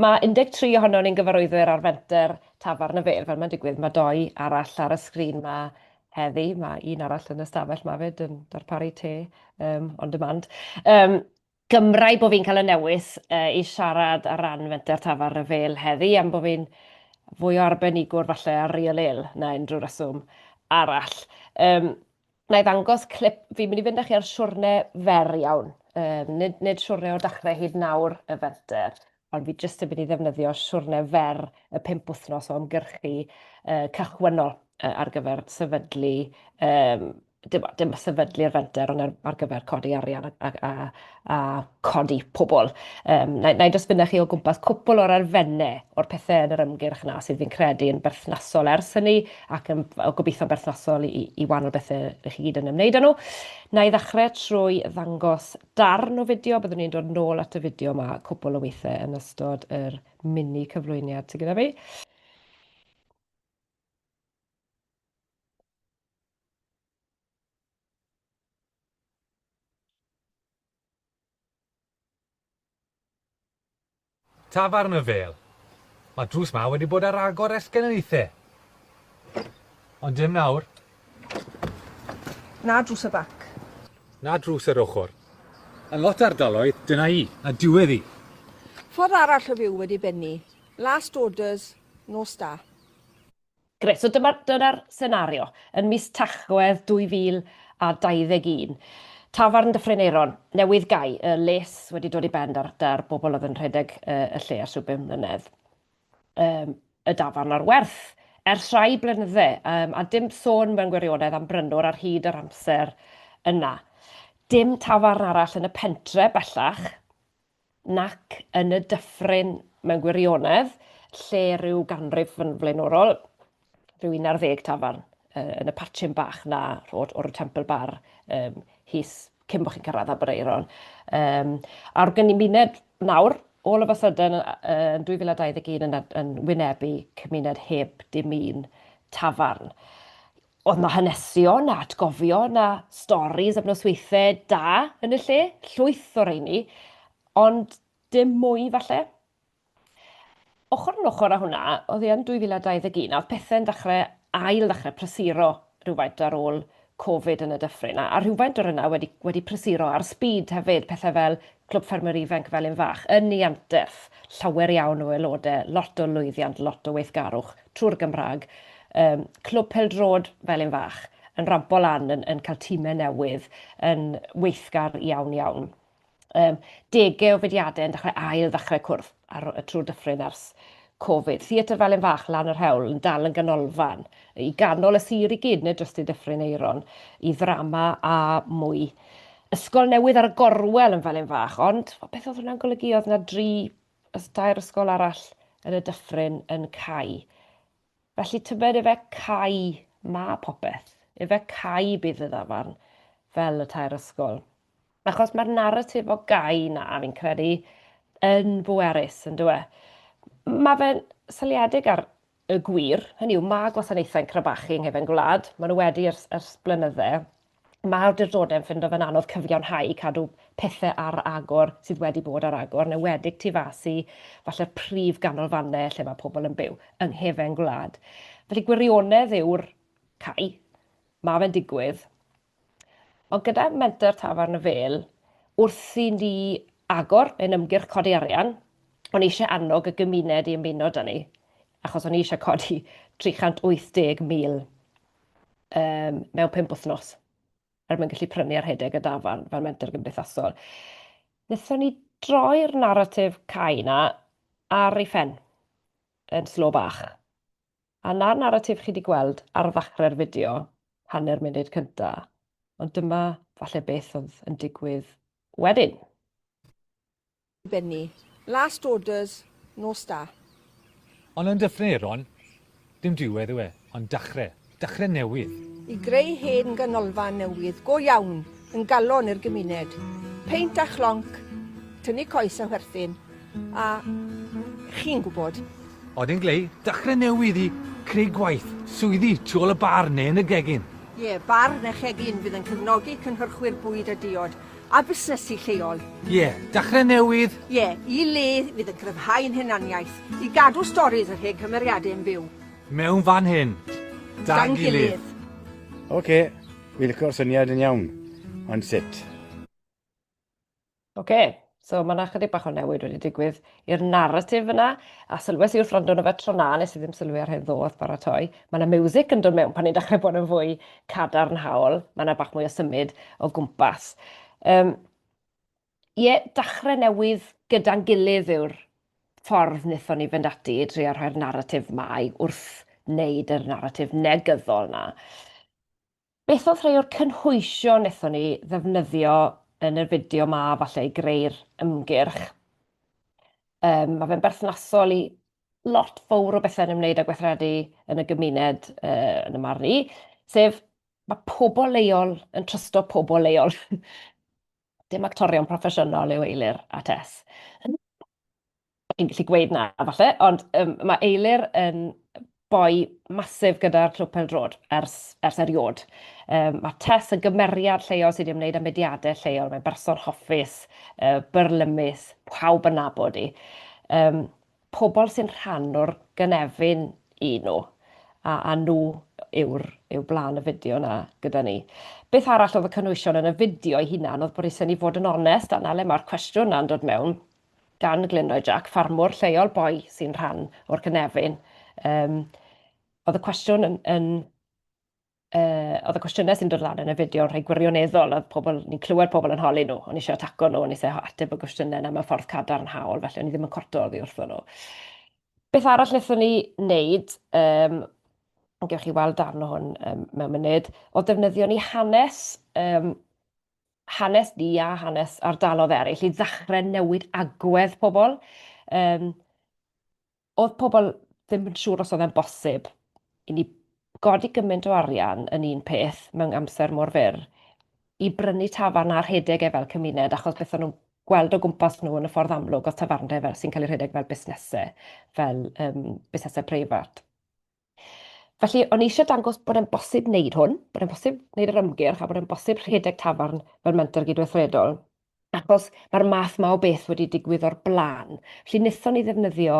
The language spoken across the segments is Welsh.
Mae 13 ohonon ni'n gyfarwyddwyr ar fenter Tafarn y Fair, fel mae'n digwydd, mae doi arall ar y sgrin 'ma heddi, mae un arall yn y stafell 'ma 'fyd yn darparu te yym on demand. Yym, gymrae bo' fi'n cael y newis yy i siarad ar ran fenter Tafarn y Fair heddi, am bo' fi'n fwy o arbenigwr falle ar Real Ale na unrhyw reswm arall. Yym, Wna i ddangos clip, fi'n mynd i fynd â chi ar siwrne fer iawn. Um, nid, nid siwrne o dachrau hyd nawr y fenter, ond fi jyst yn mynd i ddefnyddio siwrne fer y pimp wythnos o ymgyrchu uh, cychwynnol uh, ar gyfer sefydlu um, dim, dim sefydlu'r fenter, ond ar, ar gyfer codi arian a, a, a, a codi pobl. Um, na, na i dros fyna chi o gwmpas cwpl o'r arfennau o'r pethau yn yr ymgyrch yna sydd fi'n credu yn berthnasol ers hynny ac yn gobeithio'n berthnasol i, i wahanol bethau rydych chi gyd yn ymwneud â nhw. Na i ddechrau trwy ddangos darn o fideo, byddwn ni'n dod nôl at y fideo yma cwpl o weithiau yn ystod yr mini cyflwyniad sydd gyda fi. Tafarn y Fêl. Mae drws ma wedi bod ar agor ers genedlaethau. Ond dim nawr. Na drws y bac. Na drws yr ochr. Yn lot ardaloedd, dyna hi, a diwedd hi. Ffordd arall o fyw wedi bennu. Last orders, nos da. Grêt, so dyma'r dyna senario yn mis Tachwedd 2021. Tafarn Dyffryn Aeron newydd gau, y les wedi dod i ben da'r, da'r bobl oedd yn rhedeg uh, y lle ar swbyn mlynedd. Um, y dafarn ar werth ers rhai blynydde, um, a dim sôn mewn gwirionedd am brynwr ar hyd yr amser yna. Dim tafarn arall yn y pentre bellach, nac yn y dyffryn mewn gwirionedd, lle rhyw ganrif yn flaenorol, rhyw un ar ddeg tafarn yn y patchyn bach na rhod o'r Temple Bar um, his cyn bod chi'n cyrraedd Aberaeron. Um, a'r gymuned nawr, all of a sudden, yn 2021 yn, yn wynebu cymuned heb dim un tafarn. Oedd 'na hanesion, na atgofion, na storis am nosweithe da yn y lle, llwyth o reini, ond dim mwy falle. Ochr yn ochr â hwnna, oedd hi yn 2021 a oedd pethe'n dechrau ail ddechrau prysuro rhywfaint ar ôl Covid yn y dyffryn, a rhywfaint o'r yna wedi wedi prysuro ar spîd hefyd, pethau fel Clwb Ffermwyr Ifanc y Felin Fach yn ei anterth, llawer iawn o aelodau, lot o lwyddiant, lot o weithgarwch. trwy'r Gymraeg, yym, Clwb Pêl-droed Felin Fach, yn rampo lan, yn, yn cael tîmau newydd, yn weithgar iawn iawn. Um, degau o fudiadau yn dechrau ail ddechrau cwrdd ar, trwy'r dyffryn ers Covid. Theatr Felin Fach lan yr hewl yn dal yn ganolfan i ganol y sir i gyd, neu dros y dyffryn eiron, i ddrama a mwy. Ysgol newydd ar y gorwel yn Felin Fach, ond beth oedd hwnna'n golygu? Oedd yna dri Oes tair ysgol arall yn y dyffryn yn cau. Felly tybed efe cau ma popeth. Efe cau bydd y ddafarn fel y tair ysgol. Achos mae'r narratif o gau na fi'n credu yn bwerus, yn dywe. Mae fe'n seliedig ar y gwir. Hynny yw, mae gwasanaethau'n crebachu yng nghefn gwlad, maen nhw wedi ers, ers blynydde. Mae awdurdodau'n ffindo fe'n anodd cyfiawnhau cadw pethau ar agor sydd wedi bod ar agor, yn enwedig tu fas i falle'r prif ganolfannau lle mae pobl yn byw, yng nghefn gwlad. Felly gwirionedd yw'r cau, mae fe'n digwydd, Ond gyda Menter Tafarn y Fêl, wrth i ni agor ein ymgyrch codi arian, o'n i eisiau annog y gymuned i ymuno 'da ni, achos o'n i eisiau codi 380,000 um, mewn pum wythnos, er mwyn gallu prynu ar hedeg y dafarn fel menter gymdeithasol. Nethon ni droi'r naratif cae na ar ei phen yn slo bach. A 'na'r naratif chi 'di gweld ar ddachre'r fideo, hanner munud cynta, ond dyma falle beth oedd yn digwydd wedyn. Benny. Last orders, nos da. Ond yn dyffryn Aeron, dim diwedd yw e, ond dachre. Dachre newydd. I greu hen ganolfan newydd go iawn. yn galon i'r gymuned. Peint a chlonc, tynnu coes a chwerthin, a chi'n gwybod. Odyn Glei, dechrau newydd i creu gwaith, swyddi tu ôl y bar neu yn y gegin. Ie, bar neu chegin fydd yn cefnogi cynhyrchwyr bwyd a diod, a busnesu lleol. Ie, dechrau newydd. Ie, i le fydd yn cryfhau ein hunaniaeth, i gadw storis yr hen cymeriadau yn fyw. Mewn fan hyn, da'n gilydd. Oce. Fi'n licio'r syniad yn iawn, ond sut? Oce, so mae yna chydig bach o newid wedi digwydd i'r narratif yna, a sylwes i wrth rando yno fe tro na, nes i ddim sylwi ar hyn ddo wrth baratoi. Mae yna music yn dod mewn pan ni'n dechrau bod yn fwy cadarnhaol, mae yna bach mwy o symud o gwmpas. Um, Ie, dachrau newydd gyda'n gilydd yw'r ffordd wnaethon ni fynd ati i drio rhoi'r naratif mae wrth wneud yr naratif negyddol yna. Beth oedd rhai o'r cynhwysion wnaethon ni ddefnyddio yn yr fideo ma falle i greu'r ymgyrch? Um, mae fe'n berthnasol i lot fawr o bethau yn ymwneud â gweithredu yn y gymuned uh, yn y marn i, sef mae pobl leol yn trysto pobl leol. Dim actorion proffesiynol yw Eilir a Tess. Fi'n gallu gweud na, falle, ond um, mae Eilir yn boi masif gyda'r clwb peldrod ers, ers eriod. Um, mae Tess yn gymeriad lleol sydd wedi ymwneud â mediadau lleol. Mae'n berson hoffus, uh, byrlymus, pawb yn nabod i. Um, pobl sy'n rhan o'r gynefin i nhw, a, a nhw yw'r, yw blaen y fideo yna gyda ni. Beth arall oedd y cynwysion yn y fideo ei hunan oedd bod eisiau ni fod yn onest, a na le mae'r cwestiwn yna'n dod mewn, gan Glynroy Jack, ffarmwr lleol boi sy'n rhan o'r cynefin. Um, oedd y cwestiwn yn, yn uh, oedd y cwestiynau sy'n dod lan yn y fideo yn rhai gwirioneddol, oedd pobl, ni'n clywed pobl yn holi nhw, o'n eisiau ataco nhw, o'n eisiau ateb y gwestiynau yna mewn ffordd cadarnhaol, felly o'n i ddim yn corto oddi wrthyn nhw. Beth arall wnaethon ni wneud, um, yn gewch chi weld darn o hwn um, mewn munud, o defnyddio ni hanes, um, hanes ni a hanes ardalodd eraill i ddechrau newid agwedd pobl. Um, oedd pobl ddim yn siŵr os oedd e'n bosib i ni godi gymaint o arian yn un peth mewn amser mor fyr i brynu tafarn a rhedeg e fel cymuned, achos beth o'n nhw'n gweld o gwmpas nhw yn y ffordd amlwg oedd tafarndai fel sy'n cael eu rhedeg fel busnesau, fel um, busnesau preifat. Felly, o'n i eisiau dangos bod e'n bosib wneud hwn, bod e'n bosib wneud yr ymgyrch a bod e'n bosib rhedeg tafarn fel mentor gydweithredol. Achos mae'r math ma o beth wedi digwydd o'r blaen. Felly, wnaethon ni ddefnyddio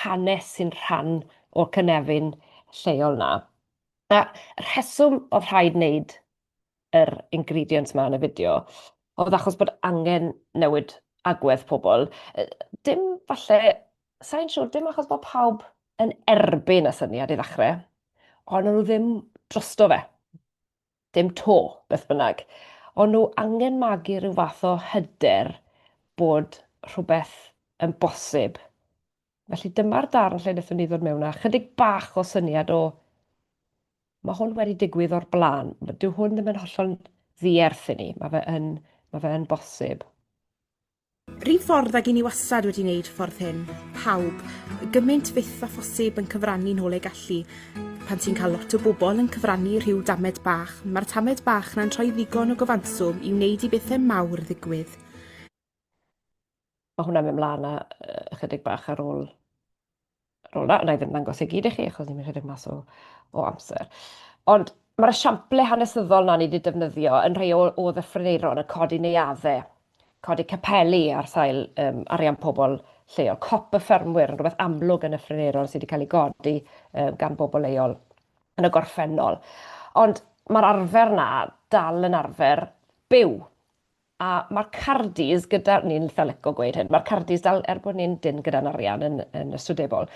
hanes sy'n rhan o'r cynefin lleol na. A rheswm oedd rhaid wneud yr ingredients ma yn y fideo, oedd achos bod angen newid agwedd pobl. Dim falle, sa'n siŵr, dim achos bod pawb yn erbyn y syniad i ddechrau, ond nhw ddim drosto fe. Dim to, beth bynnag. Ond nhw angen magu rhyw fath o hyder bod rhywbeth yn bosib Felly dyma'r darn lle wnaethon ni ddod mewn â chydig bach o syniad o mae hwn wedi digwydd o'r blaen. Dyw hwn ddim yn hollol ddierth i ni. Mae fe yn, mae fe yn bosib. Rhyw ffordd ag i ni wastad wedi wneud ffordd hyn. Pawb, gymaint fyth a phosib yn cyfrannu nôl ei gallu. Pan ti'n cael lot o bobl yn cyfrannu rhyw damed bach, mae'r tamed bach na'n troi ddigon o gyfanswm i wneud i bethau mawr ddigwydd. Mae hwnna'n mynd mlaen a uh, ychydig bach ar ôl ar ôl na, na i ddim ddangos ei gyd i chi achos ni'n rhedeg mas o, o amser. Ond mae'r esiample hanesyddol na ni wedi defnyddio yn rhai o, o ddyffryneiron yn codi neuaddau, codi capeli ar sail um, arian pobl lleol. Cop y ffermwyr yn rhywbeth amlwg yn y ffryneiron sydd wedi cael ei godi um, gan bobl leol yn y gorffennol. Ond mae'r arfer na dal yn arfer byw A ma'r cardis gyda, ni'n itha lico gweud hyn, ma'r cardis dal, er bod ni'n dyn gyda'n arian yn, yn yswydebol,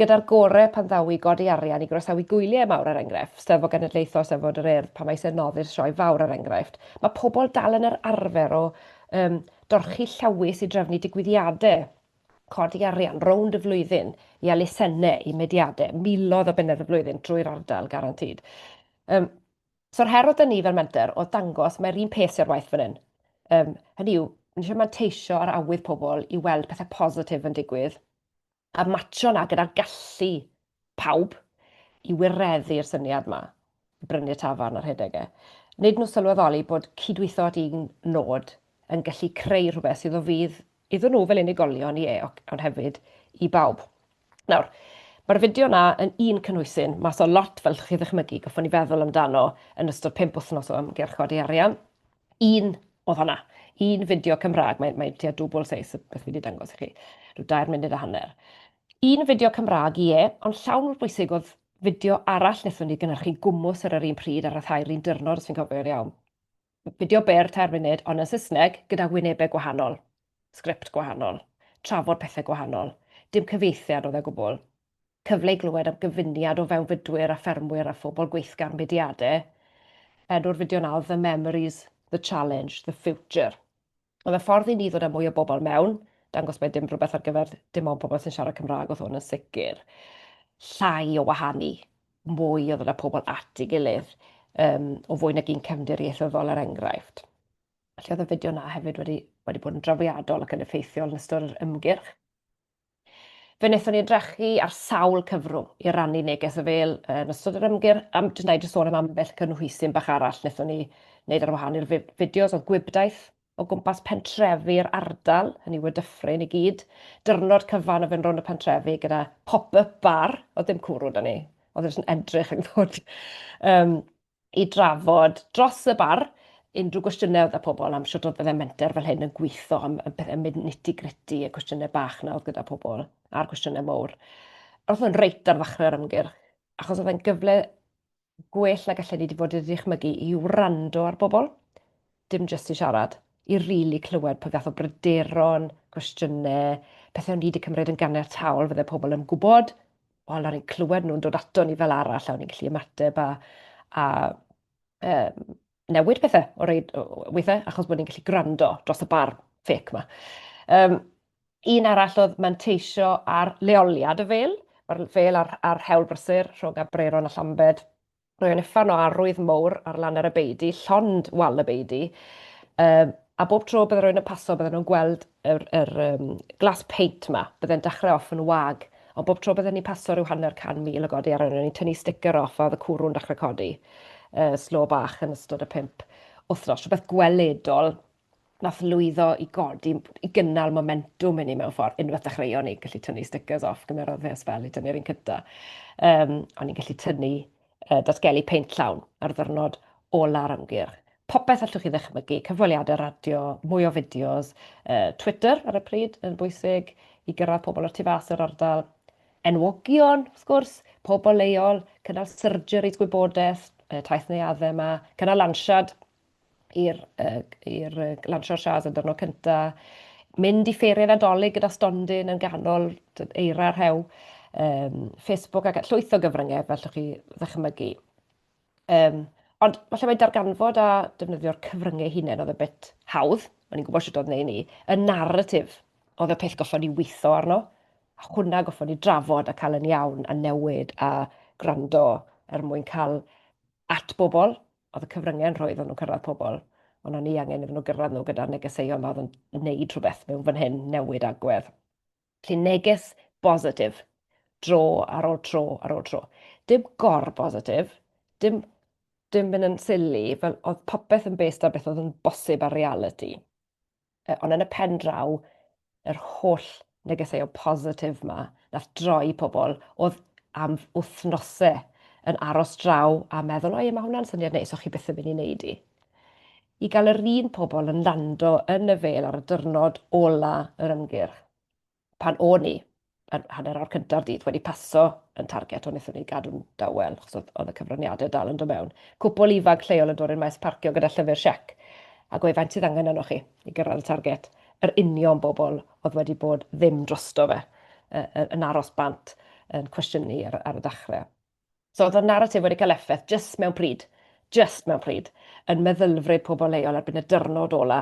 gyda'r gore pan ddaw i godi arian i groesawu gwyliau mawr er enghraifft, Steddfod Genedlaethol, Steddfod yr Urdd, pan mae eisiau noddi'r sioe fawr er enghraifft, mae pobl dal yn yr arfer o um, dorchi llawys i drefnu digwyddiadau codi arian rownd y flwyddyn i elusennau, i mediadau, milodd o bunnedd y flwyddyn trwy'r ardal, garantid. Um, So'r her oedd 'da ni fel menter oedd dangos mae'r un peth sy ar waith fan hyn. Yym, hynny yw, ni eisiau manteisio ar awydd pobl i weld pethau positif yn digwydd a matcho 'na gyda'r gallu pawb i wireddu'r syniad 'ma i brynu'r tafarn a rhedeg e. Nid nhw sylweddoli bod cydweithio at un nod yn gallu creu rhywbeth sydd o fudd iddyn nhw fel unigolion, ie, ond hefyd i bawb. Nawr, mae'r fideo yna yn un cynhwysyn, mas o lot fel chi ddychmygu, goffwn i feddwl amdano yn ystod pimp wythnos o ymgyrch codi arian. Un oedd hwnna, un fideo Cymraeg, mae'n mae tua dwbl seis y beth fi wedi dangos i chi, rhyw dair munud a hanner. Un fideo Cymraeg, ie, ond llawn mor bwysig oedd fideo arall wnaethon ni gynhyrchu gwmws ar yr un pryd a ryddhau'r un dyrnod, os fi'n cofio'n iawn. fideo byr tair munud ond yn Saesneg gyda wynebau gwahanol, sgript gwahanol, trafod pethau gwahanol, dim cyfieithiad oedd e gwbl. Cyfle i glywed am gyfuniad o fewnfudwyr a ffermwyr a phobl gweithgar mudiadau. Pedwar fideo nawr, The Memories, The Challenge, The Future. Mae fe ffordd i ni ddod â mwy o bobl mewn, dangos mai dim rhywbeth ar gyfer dim ond pobl sy'n siarad Cymraeg oedd hwn yn sicr. Llai o wahanu, mwy o ddod â pobl at ei gilydd, um, o fwy nag un cefndir ieithyddol er enghraifft. Felly oedd y fideo yna hefyd wedi, wedi bod yn drawiadol ac yn effeithiol yn ystod yr ymgyrch. Fe wnaethon ni edrychu ar sawl cyfrwng i rannu neges o fêl yn ystod yr ymgyrch, a jyst na i jyst sôn am ambell cynhwysyn bach arall wnaethon ni wneud ar wahân i'r fideos, oedd gwibdaith o gwmpas pentrefi'r ardal, hynny yw y Dyffryn i gyd, dyrnod cyfan o fynd rownd y pentrefi gyda pop-up bar, oedd dim cwrw 'da ni, oedd e jyst yn edrych ac yn dod i drafod dros y bar unrhyw gwestiynau oedd y pobl am sut oedd y menter fel hyn yn gweithio, am y pethau nitty gritty, y cwestiynau bach na oedd gyda pobl, a'r cwestiynau mowr. Roedd hwn reit ar ddechrau'r ymgyrch, achos oedd e'n gyfle gwell na gallen ni wedi bod i ddychmygu i wrando ar bobl, dim jyst i siarad, i rili really clywed pa gath o bryderon, cwestiynau, pethau o'n ni wedi cymryd yn ganiataol fydde pobl yn gwybod, wel, o'n i'n clywed nhw'n dod ato ni fel arall, a o'n i'n gallu ymateb a, a um, newid pethau o reid weithiau, achos bod ni'n gallu gwrando dros y bar ffec yma. Um, un arall oedd manteisio ar leoliad y fel, mae'r fel a'r, ar hewl brysur rhwng Abreron a Llambed, Rwy'n uffern o arwydd mowr ar lan ar y beidi, llond wal y beidi, um, a bob tro bydde rwy'n yn paso bydden nhw'n gweld yr, yr um, glas peint yma, bydde'n dechrau off yn wag, ond bob tro bydden ni'n paso rhyw hanner can mil o godi ar hynny, ni'n tynnu sticker off a oedd y cwrw'n dechrau codi uh, slo bach yn ystod y pimp wythnos, rhywbeth gweledol Nath lwyddo i godi, i gynnal momentwm i ni mewn ffordd. Unwaith dechreuon ni gallu tynnu stickers off, gymerodd fe sbel i tynnu'r un cynta. Um, o'n i'n gallu tynnu, uh, datgelu peint llawn ar ddyrnod ola'r ymgyrch. Popeth allwch chi ddychmygu, cyfweliadau radio, mwy o fideos, uh, Twitter ar y pryd yn bwysig i gyrraedd pobl o'r tu fas yr ardal, enwogion, wrth gwrs, pobl leol, cynnal surgeries gwybodaeth, taith neuaddau yma, cynnal lansiad, i'r i'r lansio'r sias yn dyrno cynta, mynd i ffeiriau Nadolig gyda stondin yn ganol eira rhew, um, Facebook ac llwyth o gyfryngau fel llwch chi ddychmygu. Um, ond falle mae darganfod a defnyddio'r cyfryngau hunain oedd y bit hawdd, o'n i'n gwybod sut oedd neu ni, y narratif oedd y peth goffon ni weithio arno, a hwnna goffon ni drafod a cael yn iawn a newid a gwrando er mwyn cael at bobl oedd y cyfryngau yn rhoi iddyn nhw cyrraedd pobl, ond o'n i angen iddyn nhw gyrraedd nhw gyda'r negeseuon fawr yn wneud rhywbeth mewn fan hyn, newid agwedd. Felly neges bositif, dro ar ôl tro ar ôl tro. Dim gor bositif, dim, dim mynd yn silly, fel oedd popeth yn based ar beth oedd yn bosib ar reality. ond yn y pen draw, yr holl negeseuon positif yma, nath droi pobl oedd am wythnosau yn aros draw a meddwl, o ie, mae hwnna'n syniad neis, o'ch chi byth yn mynd i wneud i. I gael yr un pobl yn lando yn y fel ar y dyrnod ola yr ymgyrch. pan o'n i yn hanner awr cynta'r dydd wedi paso yn target, ond wnaethon ni gadw'n dawel, achos oedd, oedd y cyfraniadau dal yn dod mewn. Cwpl ifanc lleol yn dod i'r maes parcio gyda llyfr siec, a gwe faint sydd angen yno chi i gyrraedd y target. Yr union bobl oedd wedi bod ddim drosto fe, yn aros bant yn cwestiynu ar, ar y dechrau. So oedd y naratif wedi cael effaith jyst mewn pryd, jyst mewn pryd, yn meddylfryd pobl leol erbyn y dyrnod ola,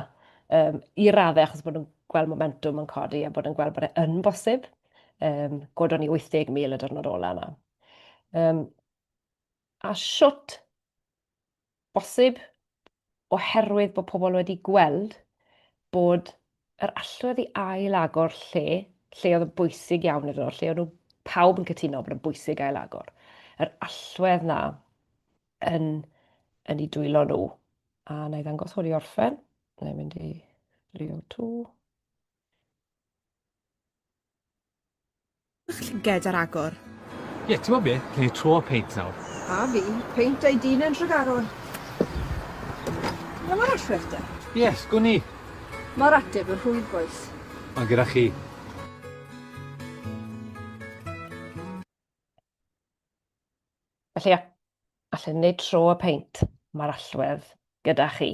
um, i raddau achos bod nhw'n gweld momentum yn codi a bod yn gweld bod e yn bosib. Um, godon ni 80,000 y dyrnod ola yna. Um, a siwt Bosib, oherwydd bod pobl wedi gweld bod yr allwedd i ail-agor lle, lle oedd yn bwysig iawn iddyn nhw, lle oedd nhw pawb yn cytuno bod yn bwysig ail-agor, yr allwedd na yn, yn ei dwylo nhw. A na i ddangos hwn i orffen, na i mynd i Leo 2. Bach llyged ar agor. Ie, ti'n gwybod be? Gen i tro o peint nawr. A fi, peint a'i dyn yn Nhregaron. Dyna mae'r athref da. Yes, gwn i. Mae'r ateb yn rhwydd, boys. Mae gyda chi. Felly, allwn wneud tro o peint. Mae'r allwedd gyda chi.